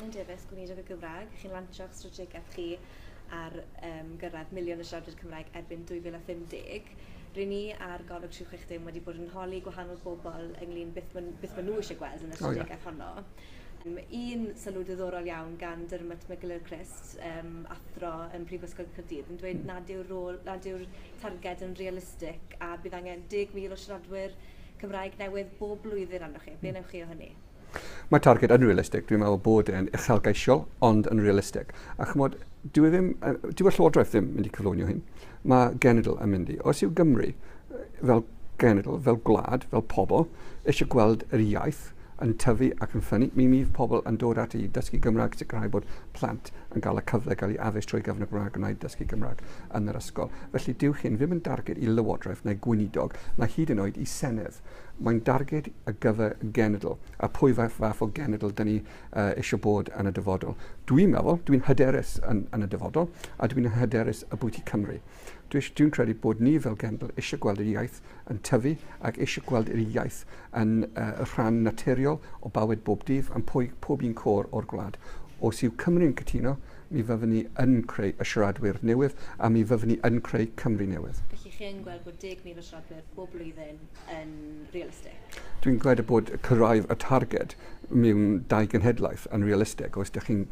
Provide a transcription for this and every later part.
Alun Davies, Gweinidog y Gymraeg, chi'n lancio'ch strategaeth chi ar um, gyrraedd miliwn y siaradwyr Cymraeg erbyn 2050. Rydyn ni ar golwg 360 wedi bod yn holi gwahanol bobl ynglyn beth maen ma nhw eisiau gweld yn y strategaeth oh, yeah. honno. Um, un sylw diddorol iawn gan Dermot McGill Christ, um, athro yn Prifysgol Cyrdydd, yn dweud nad yw'r rôl, nad yw'r targed yn realistig a bydd angen 10,000 o siaradwyr Cymraeg newydd bob blwyddyn arnoch chi. Be hmm. wnewch chi o hynny? Mae targed yn realistig, dwi'n meddwl bod e'n uchelgeisiol, ond yn realistig. A chymod, dyw e ddim, dyw y Llywodraeth ddim mynd i cyflwynio hyn. Mae genedl yn mynd i. Os yw Gymru fel genedl, fel gwlad, fel pobl, eisiau gweld yr iaith yn tyfu ac yn ffynnu, mi fydd pobl yn dod ati i dysgu Gymraeg, sicrhau bod plant yn cael y cyfle gael ei addysg trwy gyfnod Gymraeg gwna i dysgu Gymraeg yn yr ysgol. Felly dyw hyn ddim yn darged i Lywodraeth neu Gweinidog, na hyd yn oed i Senedd. Mae'n darged ar gyfer genedl, a pwy fath o genedl dyn ni eisiau bod yn y dyfodol. Dwi'n meddwl, dwi'n hyderus yn, yn y dyfodol, a dwi'n hyderus y bwyt i Cymru. Dwi'n credu bod ni fel genedl eisiau gweld yr iaith yn tyfu ac eisiau gweld yr iaith yn uh, rhan naturiol o bywyd bob dydd am pwy, pob un cor o'r gwlad. Os yw Cymru'n cytuno, mi fyddwn ni yn creu y siaradwyr newydd a mi fyddwn ni yn creu Cymru newydd. Felly chi yn gweld bod 10,000 o siaradwyr bob blwyddyn yn realistig? Dwi'n gwneud bod cyrraedd y targed mewn dau genhedlaeth yn realistig, os ydych chi'n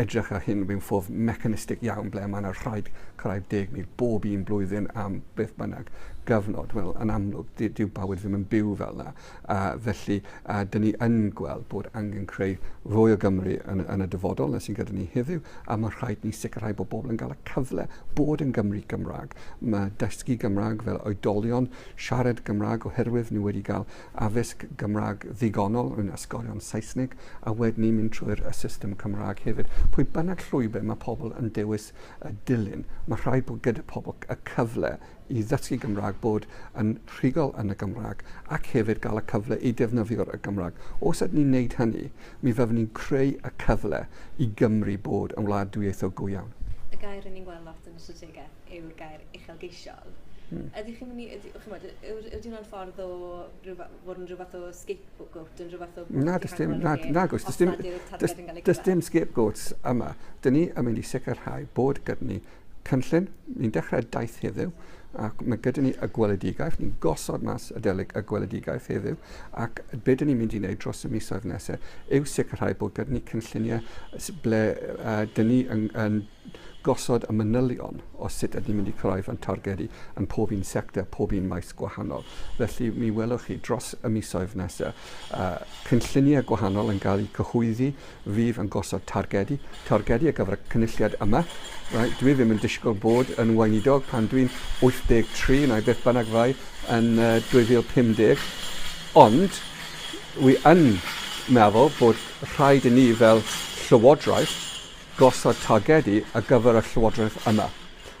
edrych ar hyn mewn ffordd mechanistig iawn ble mae yna rhaid cyrraedd 10,000 bob un blwyddyn am beth bynnag gyfnod, wel yn amlwg dyw bywyd ddim yn byw fel yna. A felly a, dyn ni yn gweld bod angen creu fwy o Gymru yn, yn y dyfodol na sy'n gyda ni heddiw a mae rhaid ni sicrhau bod bobl yn cael y cyfle bod yn Gymru Gymraeg. Mae dysgu Gymraeg fel oedolion siarad Cymraeg oherwydd ni wedi cael addysg Gymraeg ddigonol yn ysgolion Saesneg a wedyn ni'n mynd trwy'r y system Cymraeg hefyd. Pwy bynnag llwybr mae pobl yn dewis y dilyn, mae rhaid bod gyda pobl y cyfle i ddysgu Gymraeg, bod yn rhugol yn y Gymraeg ac hefyd gael y cyfle i defnyddio'r y Gymraeg. Os ydyn ni'n neud hynny, mi fyddwn ni'n creu y cyfle i Gymru bod yn wlad dwyieithog go iawn. Y gair ry'n ni'n gweld lot yn y strategaeth yw'r gair uchelgeisiol. Mm. Ydych chi'n mynd i, ydy, chymod, yw'r yw hwnna'n ffordd o rhywbeth, fod yn rhywbeth o scapegoat, yn rhywbeth o... Na, dys dim, na, na, gwrs, dys dim, dys dim scapegoats yma. Dyn ni yn mynd i sicrhau bod gyda ni cynllun, ni'n dechrau daith heddiw, ac mae gyda ni y gweledigaeth, ni'n gosod mas y delig y gweledigaeth heddiw, ac be dyn ni'n mynd i wneud dros y misoedd nesaf yw sicrhau bod gyda ni cynlluniau ble uh, dyn ni yn, yn gosod y manylion o sut ydym ni'n mynd i cyrraedd ein targedu yn pob un sector, pob un maes gwahanol. Felly, mi welwch chi dros y misoedd nesaf uh, cynlluniau gwahanol yn cael eu cyhoeddi, fydd yn gosod targedu, targedu ar gyfer y cynulliad yma. Right? Dwi ddim yn disgwyl bod yn weinidog pan dwi'n 83, neu beth bynnag fai, yn uh, 2050, ond wi yn meddwl bod rhaid i ni fel llywodraeth gosod targedu ar gyfer y Llywodraeth yma.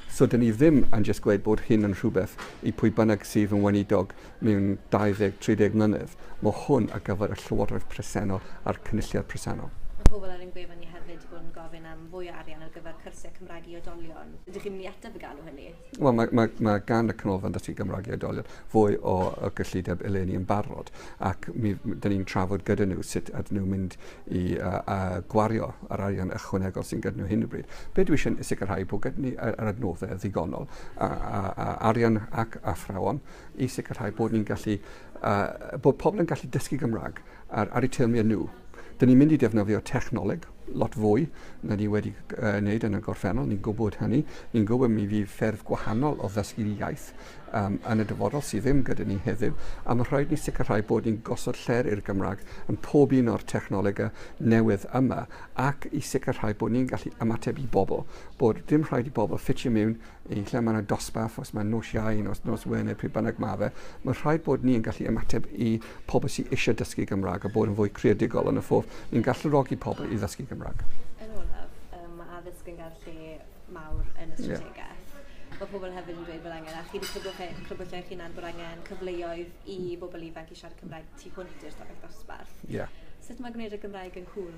So dan ni ddim yn jyst gweud bod hyn yn rhywbeth i pwy bynnag sydd yn weinidog mewn 20, 30 mlynedd. Mae hwn ar gyfer y Llywodraeth presennol a'r Cynulliad presennol. Mae pobl ar ein gwefan ni hefyd wedi bod yn gofyn am fwy o arian ar gyfer cyrsiau Cymraeg i oedolion. Ydych chi'n mynd i ateb y galw hynny? Wel, mae, mae, mae gan y Canolfan Dysgu Gymraeg i Oedolion fwy o, o gyllideb eleni yn barod ac mi, dyn ni'n trafod gyda nhw sut ydyn nhw'n mynd i uh, uh, gwario yr arian ychwanegol sy'n gyda nhw hyn o bryd. Be dwi eisiau sicrhau bod gyda ni yr adnoddau ddigonol a, a, a arian ac athrawon i sicrhau bod ni'n gallu, uh, bod pobl yn gallu dysgu Gymraeg ar ar eu teyrmiau nhw. Dyn ni'n mynd i defnyddio technoleg lot fwy na ni wedi wneud yn y gorffennol, ni'n gwybod hynny, ni'n gwybod mi fydd ffyrdd gwahanol o ddysgu'r iaith um, yn y dyfodol sydd ddim gyda ni heddiw, a mae rhaid ni sicrhau bod ni'n gosod lle'r i'r Gymraeg yn pob un o'r technolegau newydd yma, ac i sicrhau bod ni'n gallu ymateb i bobl, bod dim rhaid i bobl ffitio mewn yn lle mae yna dosbarth, os mae nos Iau, nos, nos Wener, pryd bynnag mae fe, mae'n rhaid bod ni yn gallu ymateb i pobl sy'n eisiau dysgu Gymraeg a bod yn fwy creadigol yn y ffordd ni'n galluogi pobl i ddysgu Gymraeg. Yn olaf, um, mae addysg yn gael lle mawr yn y strategaeth. Yeah. Mae pobl hefyd yn dweud bod angen, a chi wedi crybwyll eich hunan bod angen cyfleoedd i bobl ifanc i siarad Cymraeg tu hwnt i'r stafell ddosbarth. Yeah. Sut mae gwneud y Gymraeg yn cool?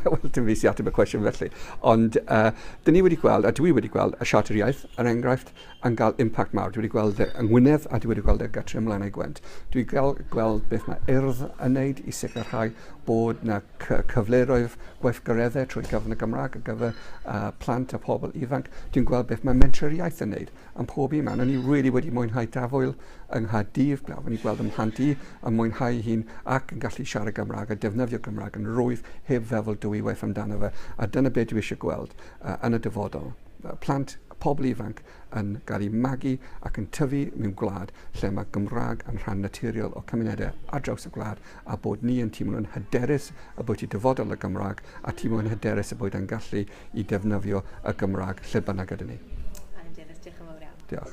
Wel, dim fi sy'n ateb y cwestiwn felly. Ond uh, dyn ni wedi gweld, a dwi wedi gweld, y siarter iaith, yr er enghraifft, yn cael impact mawr. Dwi wedi gweld e yng Ngwynedd a dwi wedi gweld e gytre ymlaen ei gwent. Dwi wedi gweld, gweld beth mae urdd yn neud i sicrhau bod na cyfleroedd gweithgareddau trwy gyfrwng y Gymraeg ar gyfer uh, plant a pobl ifanc. Dwi'n gweld beth mae mentrau'r iaith yn neud. Am pob un man, o'n i really wedi mwynhau Tafwyl yng Nghaerdydd, braf o'n i gweld ym mhlant i yn mwynhau hyn ac yn gallu siarad Gymraeg a defnyddio Cymraeg yn rwydd heb feddwl dwywaith amdano fe a dyna be dwi eisiau gweld uh, yn y dyfodol. Uh, plant, pobl ifanc yn cael eu magu ac yn tyfu mewn gwlad lle mae Gymraeg yn rhan naturiol o cymunedau ar draws y gwlad a bod ni yn teimlo'n hyderus y bod y dyfodol y Gymraeg a teimlo'n hyderus y bod e'n gallu i defnyddio y Gymraeg lle bynnag ydyn ni. Yn hyderus, diolch yn fawr iawn. Diolch.